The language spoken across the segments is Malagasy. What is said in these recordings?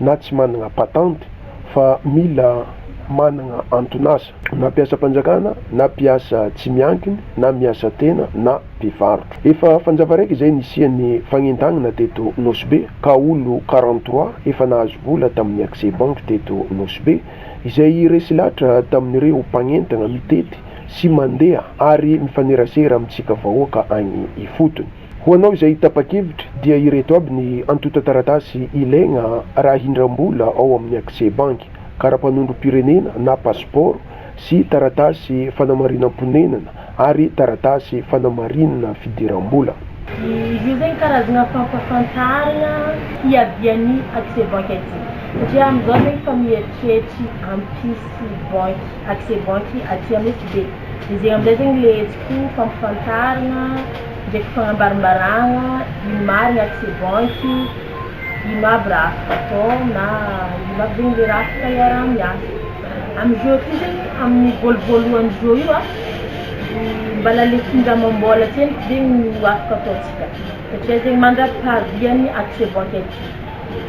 na tsy managna patente fa mila managna anton'asa na mpiasam-panjakana na mpiasa tsy miankiny na miasa tena na mpivarotra. Efa fanjava raiky izay nisian'ny fagnentagnana teto Nosy Be ka olo quarante trois efa nahazo vola tamin'ny accès banque teto Nosy Be izay resy latra tamin'ireo mpagnentagna mitety sy mandeha ary mifanerasera amintsika vahoaka agny ifotony. Ho anao izay tapa-kevitra dia ireto aby ny antontan-taratasy ilaigna raha hindram-bola ao amin'ny Accès Banque, kara-panondrom-pirenena na pasipaoro sy taratasy fanamarinam-ponenana ary taratasy fanamarina fidiram-bola. Izy io zegny karazagna fampafantaragna hiavian'ny Accès Banque aty satria amizao zegny efa mieritreritry hampisy banky, Accès Banque aty amin'ny SB de zegny amizay zegny le hetsiko fampifantaragna ndraiky fagnambarimbaragna ino marigny ato c'est bon ity ino aby raha afaka atao na ino aby zegny le raha afaka iaraha-miasa amy jeux ty zegny amin'ny voalo voalohany jeux io a mbala le kingdra amam-bola tsendriky zegny no afaka ataontsika satria zegny mandra-pahavian'ny ato c'est bon ty aty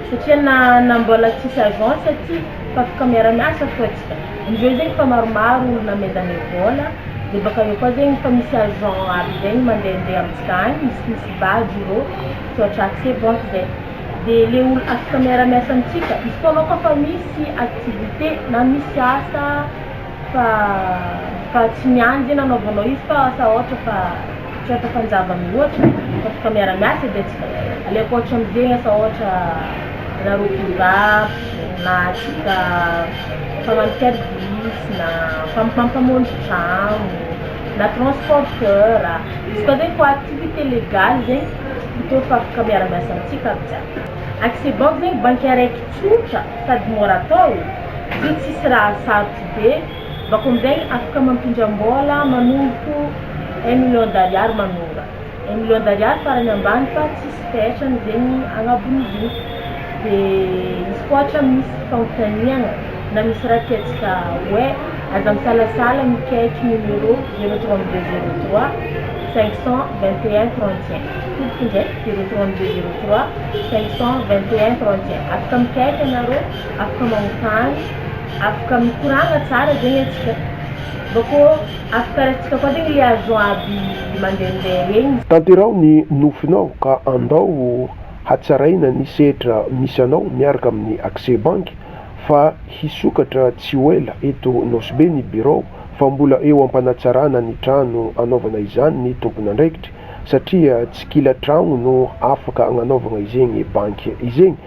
Satria na na mbola tsisy agence aty fa afaka miara-miasa fô tsika indreo zegny efa maromaro olo namezanay vôla de baka eo koa zegny efa misy agent aby zegny mandehandeha amintsika agny misy misy badge irô misaotra aka c'est bon zay de le olo afaka miara-miasa amintsika izy koa anao koa fa misy activité na misy asa fa fa tsy miandry zegny anaovanao izy fa asa ôhatra fa tsy ohatra fanjava mihoatra fa tonga miara-miasa dia tsy aleoko ohatra amin'izegny asa ohatra na rokim-barotra na atsika mpagnano service na mpam- mpamonjy tragno na transporteur izy koa zegny koa activité légale zegny toa efa afaka miara-miasa amintsika aby jiaby accès banque zegny banky araiky tsotra sady môra atao satria tsisy raha sarotro be Bako amizay afaka mampindram-bola manomboka un million d'ariary manonga un million d'ariary farany ambany fa tsisy fetra amizegny agnabon'izigny de izy koa ohatra misy fanontaniagna na misy raha tiantsika hoe aza misalasala mikaiky numéro zero trente deux zero trois cinq cent vingt et un trente et un tompoko ndraiky zero trente deux zero trois cinq cent vingt et un trente et un afaka mikaiky anareo afaka magnontany Afaka mikoragna tsara zegny atsika mbô kô afaka raintsika koa zegny le avion aby mandehandeha regny. Tanteraho ny nofinao ka andao hatsaraina ny sehatra misy anao miaraka amin'ny accès banky fa hisokatra tsy ho ela eto Nosy Be ny birao fa mbola eo am-panatsarana ny trano anaovana izany ny tompon'andraikitry satria tsy kila tragno no afaka agnanaovagna izegny banky izegny